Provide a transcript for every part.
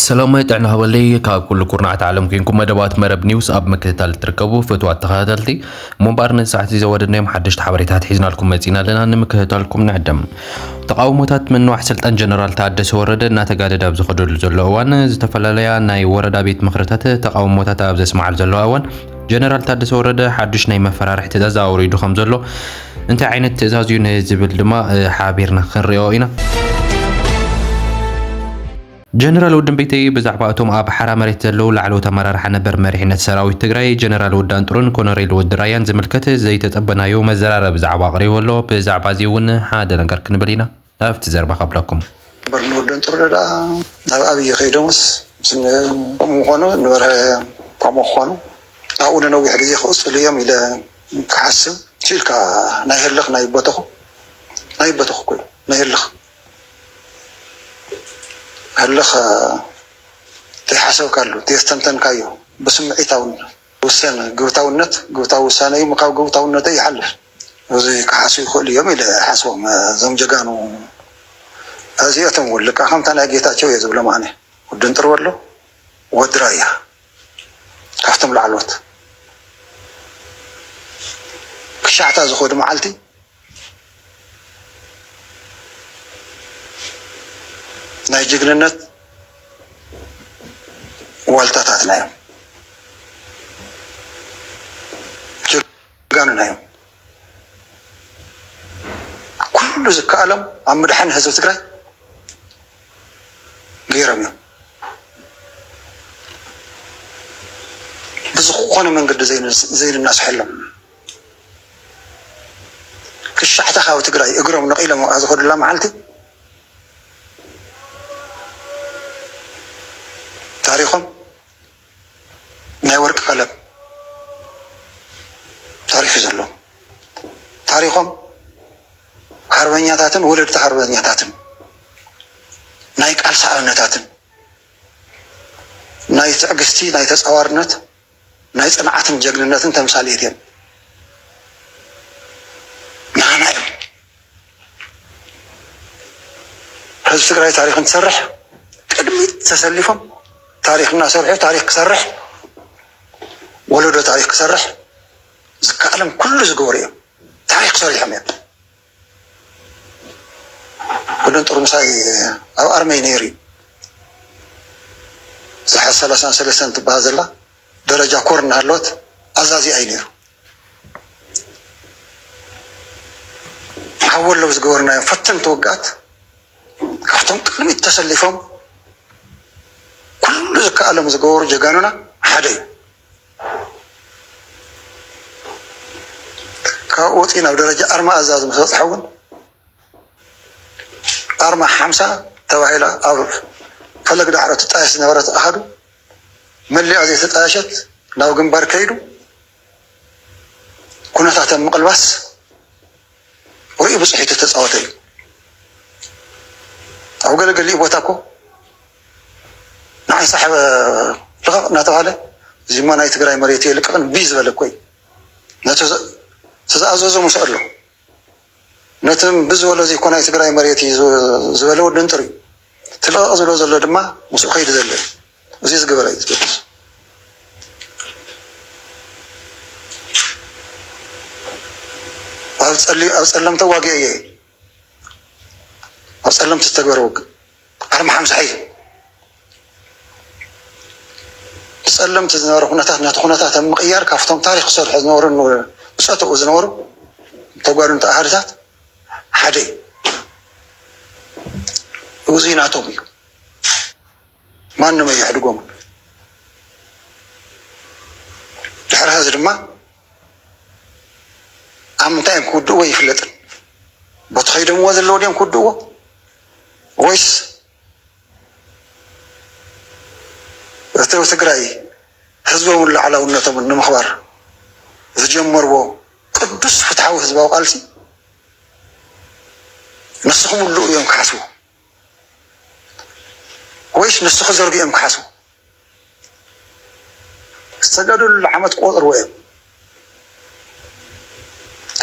ሰላማይ ጥዕና ሃበለይ ካብ ኩሉ ኩርናዓት ዓለም ኮንኩም መደባት መረብ ኒውስ ኣብ ምክትታል እትርከቡ ፍትዋት ተኸታተልቲ እሞ እምበኣር ነዚ ሰዓት እዚ ዘወደድናዮም ሓደሽቲ ሓበሬታት ሒዝናልኩም መፂና ኣለና ንምክትታልኩም ንዕደም ተቃውሞታት ምንዋሕ ስልጣን ጀነራል ታደሰ ወረደ እናተጋደደ ኣብ ዝኸደሉ ዘሎ እዋን ዝተፈላለያ ናይ ወረዳ ቤት ምክርታት ተቃውሞታት ኣብ ዘስማዓሉ ዘለዋ እዋን ጀነራል ታደሰ ወረደ ሓዱሽ ናይ መፈራርሒ ትእዛዝ ኣውሪዱ ከም ዘሎ እንታይ ዓይነት ትእዛዝ እዩ ንዝብል ድማ ሓቢርና ክንሪኦ ኢና። ጀነራል ውድን ቤተይ ብዛዕባ እቶም ኣብ ሓራ መሬት ዘለዉ ላዕለዎት ኣመራርሓ ነበር መሪሕነት ሰራዊት ትግራይ ጀነራል ወዲ ኣንጥሩን ኮነሬል ወዲ ራያን ዝምልከት ዘይተጸበናዮ መዘራረቢ ዛዕባ ኣቕሪቡ ኣሎ። ብዛዕባ እዚ እውን ሓደ ነገር ክንብል ኢና። ኣብቲ ዘርባ ከብለኩም። በርንወደን ጥሩነህ ደኣ ናብ ኣብይ ከይዶምስ ምስ ምኾኑ ንበርሀ ከምኡ ክኾኑ ኣብኡ ንነዊሕ ግዜ ክቕፅሉ እዮም ኢለ ክሓስብ ኪኢልካ ናይ ህልኽ ናይ በተኹ ናይ በተኹ እኮ እዩ ናይ ህልኽ ህልኽ ተይሓሰብካሉ ተየስተንተንካዮ ብስምዒታውነት ውሰነ ግብታውነት ግብታዊ ውሳነ እዩ ምካብ ግብታውነተይ ይሓልፍ። ብዙይ ክሓስዩ ይክእሉ እዮም ኢለ ይሓስቦም እዞም ጀጋኑ ኣዚኦቶም ውን ልክዕ ከምታ ናይ ጌታቸው እየ ዝብሎም ኣነ ወዲ እንጥርበሎ ወዲ ራያ ካብቶም ላዕሎዎት ክሻዕታ ዝከዱ ማዓልቲ ናይ ጅግንነት ዋልታታትና እዮም። ጀጋኑና እዮም። ኩሉ ዝከኣሎም ኣብ ምድሓን ህዝቢ ትግራይ ገይሮም እዮም። ብዝኾነ መንገዲ ዘይንናስሐሎም ክሻሕታ ካብ ትግራይ እግሮም ነቂሎም ኣብኣ ዝኸዱላ መዓልቲ ታሪኾም ናይ ወርቂ ቀለም ታሪኽ እዩ ዘለዎም። ታሪኾም ሃርበኛታትን ወለድቲ ሃርበኛታትን ናይ ቃልሲ ኣብነታትን ናይ ትዕግስቲ ናይ ተፃዋርነት ናይ ጽንዓትን ጀግንነትን ተምሳሌት እዮም ናህና እዮም ህዝቢ ትግራይ ታሪክ እንትሰርሕ ቅድሚት ተሰሊፎም ታሪክ እናሰርሑ ታሪክ ክሰርሕ ወለዶ ታሪክ ክሰርሕ ዝከኣሎም ኩሉ ዝገበሩ እዮም ታሪክ ሰሪሖም እዮም ኩለን ጥርሙሳይ ኣብ ኣርመይ ነይሩ እዩ ዝሓ ሰላሳን ሰለስተን ትበሃል ዘላ ደረጃ ኮር እናሃለወት ኣዛዚኣ እዩ ነይሩ ሓዊ ኣለዉ ዝገበርናዮም ፈተንቲ ውግኣት ካብቶም ቅድሚት ተሰሊፎም ኩሉ ዝከኣሎም ዝገበሩ ጀጋኑና ሓደ እዩ ካብኡ ወፂኡ ናብ ደረጃ ኣርማ ኣዛዚ ምስ በፅሐ እውን ኣርማ ሓምሳ ተባሂላ ኣብ ፈለግ ዳዕሮ ትጣየስ ዝነበረት ኣሃዱ መሊኣ ዘይተጣየሸት ናብ ግንባር ከይዱ ኩነታት ኣብ ምቕልባስ ርእዩ ብጽሒቱ ዝተጻወተ እዩ። ኣብ ገለ ገሊኡ ቦታ እኮ ንዓይ ሳሕበ ልቐቕ እናተባህለ እዚማ ናይ ትግራይ መሬት እየ ልቀቕ እምቢ ዝበለ እኮ እዩ። ነቲ ዝተኣዘዞ ሙስዕ ኣሎ ነቲ እምቢ ዝበሎ እዚ እኮ ናይ ትግራይ መሬት እዩ ዝበለ ወዲ እንጥር እዩ። እቲ ልቐቕ ዝብሎ ዘሎ ድማ ሙስዕ ከይዱ ዘሎ እዩ። እዙይ ዝገበረ እዩ ዝገድስ ኣብ ፀለምቲ ዋጊ እየ ኣብ ፀለምቲ ዝተግበረ ውግ ዓርሚ ሓምሳ እዩ ብፀለምቲ ዝነበረ ኩነታት ነቲ ኩነታት ኣብ ምቅያር ካብቶም ታሪክ ዝሰርሑ ዝነበሩ ብፀተኡ ዝነበሩ ተጓድንቲ ኣሃድታት ሓደ እዩ እዙይ ናቶም እዩ ማንም ኣየሕድጎምን። ድሕሪ ሐዚ ድማ ኣብ ምንታይ እዮም ክውድእዎ ኣይፍለጥን። ቦቲ ከይደምዎ ዘለዎ ድዮም ክውድእዎ ወይስ እቲ ትግራይ ህዝቦምን ላዕላውነቶምን ንምኽባር ዝጀመርዎ ቅዱስ ፍትሓዊ ህዝባዊ ቃልሲ ንስኹም ኣለኡ እዮም ክሓስቡ ወይስ ንሱ ክዘርግኦ እዮም ክሓስቡ? ዝተጋደልሉ ዓመት ክቖጽርዎ እዮም።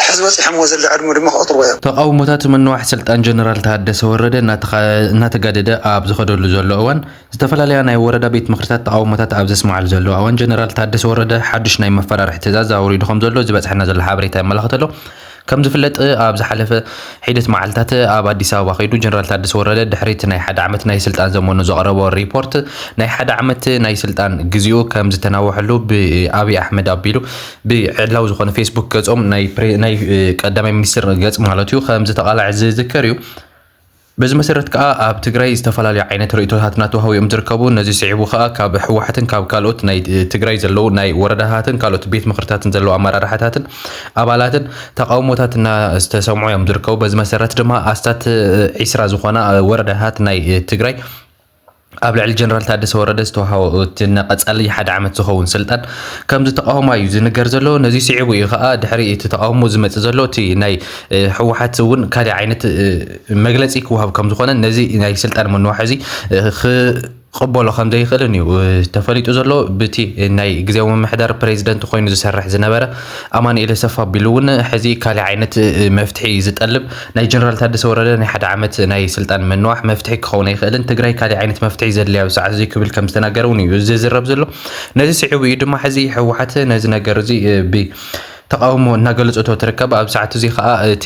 ሕዚ በጺሖምዎ ዘሎ ዕድመ ድማ ክቖጽርዎ እዮም። ተቓውሞታት ምንዋሕ ስልጣን ጀነራል ታደሰ ወረደ እናተጋደደ ኣብ ዝኸደሉ ዘሎ እዋን ዝተፈላለያ ናይ ወረዳ ቤት ምኽሪታት ተቓውሞታት ኣብ ዘስምዓሉ ዘለዋ እዋን ጀነራል ታደሰ ወረደ ሓዱሽ ናይ መፈራርሒ ትእዛዝ ኣውሪዱ ከም ዘሎ ዝበፅሐና ዘሎ ሓበሬታ የመላኽት ኣሎ። ከም ዝፍለጥ ኣብ ዝሓለፈ ሒደት መዓልታት ኣብ ኣዲስ ኣበባ ከይዱ ጀነራል ታደሰ ወረደ ድሕሪ እቲ ናይ ሓደ ዓመት ናይ ስልጣን ዘመኑ ዘቕረቦ ሪፖርት ናይ ሓደ ዓመት ናይ ስልጣን ግዚኡ ከም ዝተናወሐሉ ብኣብዪ ኣሕመድ ኣቢሉ ብዕላዊ ዝኾነ ፌስቡክ ገጾም ናይ ቀዳማይ ሚኒስትር ገጽ ማለት እዩ ከም ዝተቓልዐ ዝዝከር እዩ። በዚ መሰረት ከኣ ኣብ ትግራይ ዝተፈላለዩ ዓይነት ርእይቶታት ናተውሃቡ እዮም ዝርከቡ። ነዚ ስዒቡ ከኣ ካብ ህወሓትን ካብ ካልኦት ናይ ትግራይ ዘለዉ ናይ ወረዳታትን ካልኦት ቤት ምኽርታትን ዘለዉ ኣመራርሓታትን ኣባላትን ተቓውሞታት እናተሰምዑ እዮም ዝርከቡ። በዚ መሰረት ድማ ኣስታት ዒስራ ዝኾና ወረዳታት ናይ ትግራይ ኣብ ልዕሊ ጀነራል ታደሰ ወረደ ዝተውሃቦ እቲ ንቐፃሊ ሓደ ዓመት ዝኸውን ስልጣን ከም ዝተቓወማ እዩ ዝንገር ዘሎ። ነዚ ስዒቡ እዩ ከዓ ድሕሪ እቲ ተቓውሞ ዝመፅእ ዘሎ እቲ ናይ ህወሓት እውን ካልእ ዓይነት መግለፂ ክወሃብ ከም ዝኾነን ነዚ ናይ ስልጣን ምንዋሕ እዚ ክቕበሎ ከም ዘይኽእልን እዩ ተፈሊጡ ዘሎ ብቲ ናይ ግዜያዊ ምምሕዳር ፕሬዚደንት ኮይኑ ዝሰርሕ ዝነበረ ኣማኑኤል ኣሰፋ ኣቢሉ እውን ሕዚ ካልእ ዓይነት መፍትሒ ዝጠልብ ናይ ጀነራል ታደሰ ወረደ ናይ ሓደ ዓመት ናይ ስልጣን ምንዋሕ መፍትሒ ክኸውን ኣይኽእልን፣ ትግራይ ካሊእ ዓይነት መፍትሒ እዩ ዘድልያ ኣብዚ ሰዓት እዙይ ክብል ከም ዝተናገረ እውን እዩ ዝዝረብ ዘሎ። ነዚ ስዒቡ እዩ ድማ ሕዚ ህወሓት ነዚ ነገር እዚ ብ ተቃውሞ እናገለፀቶ ትርከብ ኣብ ሰዓት እዚ ከዓ እቲ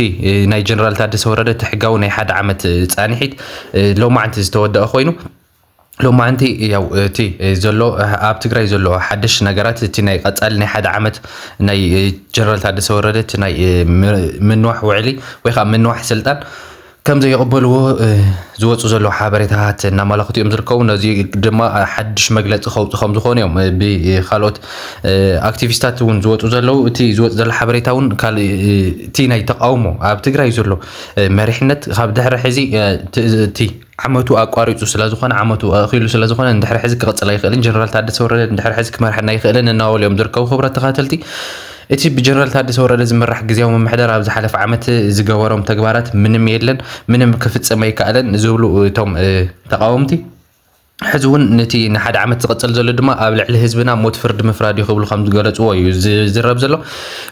ናይ ጀነራል ታደሰ ወረደ እቲ ሕጋዊ ናይ ሓደ ዓመት ፃንሒት ሎማዕንቲ ዝተወደአ ኮይኑ ሎማዓንቲ ያው እቲ ዘሎ ኣብ ትግራይ ዘሎ ሓደሽ ነገራት እቲ ናይ ቀፃሊ ናይ ሓደ ዓመት ናይ ጀነራል ታደሰ ወረደ እቲ ናይ ምንዋሕ ውዕሊ ወይ ከዓ ምንዋሕ ስልጣን ከም ዘይቕበልዎ ዝወፁ ዘለዉ ሓበሬታታት እናመላኽቱ እዮም ዝርከቡ ነዚ ድማ ሓድሽ መግለፂ ከውፅእ ከም ዝኾኑ እዮም ብካልኦት ኣክቲቪስታት እውን ዝወፁ ዘለዉ እቲ ዝወፅ ዘሎ ሓበሬታ እውን ካልእ እቲ ናይ ተቃውሞ ኣብ ትግራይ ዘሎ መሪሕነት ካብ ድሕሪ ሕዚ እቲ ዓመቱ ኣቋሪጹ ስለዝኾነ ዓመቱ ኣእኺሉ ስለዝኾነ ንድሕሪ ሕዚ ክቕጽል ኣይኽእልን ጀነራል ታደሰ ወረደ ንድሕሪ ሕዚ ክመርሐና ኣይኽእልን እናበሉ እዮም ዝርከቡ። ክቡራት ተኸታተልቲ እቲ ብጀነራል ታደሰ ወረደ ዝምራሕ ግዜያዊ ምምሕዳር ኣብ ዝሓለፈ ዓመት ዝገበሮም ተግባራት ምንም የለን፣ ምንም ክፍጽም ኣይከኣለን ዝብሉ እቶም ተቓወምቲ ሕዚ እውን ነቲ ንሓደ ዓመት ዝቕጽል ዘሎ ድማ ኣብ ልዕሊ ህዝብና ሞት ፍርዲ ምፍራድ እዩ ክብሉ ከም ዝገለጽዎ እዩ ዝዝረብ ዘሎ።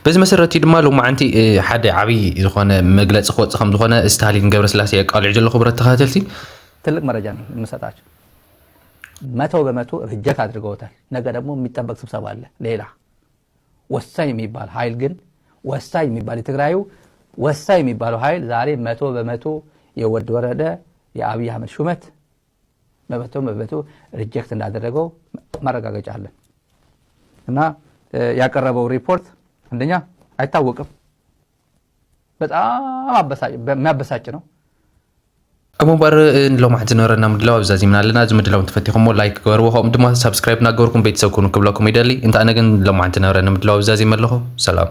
በዚ መሰረት እዩ ድማ ሎማዓንቲ ሓደ ዓብይ ዝኾነ መግለፂ ክወፅእ ከም ዝኾነ ስታሊን ገብረስላሴ የቃልዑ ዘሎ ክቡረት ተኸታተልቲ። ትልቅ መረጃ ነው የምሰጣችሁ መቶ በመቶ ርጀት አድርገውታል። ነገ ደግሞ የሚጠበቅ ስብሰባ አለ ሌላ ወሳኝ የሚባል ኃይል ግን ወሳኝ የሚባል የትግራዩ ወሳኝ የሚባለው ኃይል ዛሬ መቶ በመቶ የወድ ወረደ የአብይ አህመድ ሹመት መበተው መበተው ሪጀክት እንዳደረገው ማረጋገጫ አለን እና ያቀረበው ሪፖርት አንደኛ አይታወቅም። በጣም የሚያበሳጭ ነው። ኣብ ምንባር ንሎማሕት ዝነበረና ምድላው ኣብዛ ዚምና ኣለና እዚ ምድላው እንተፈቲኹሞ ላይክ ገበርዎ ከምኡ ድማ ሳብስክራይብ እናገበርኩም ቤተሰብ ኩኑ ክብለኩም ይደሊ እንተ ኣነ ግን ሎማሕት ዝነበረኒ ምድላው ኣብዛ ዚም ኣለኹ ሰላም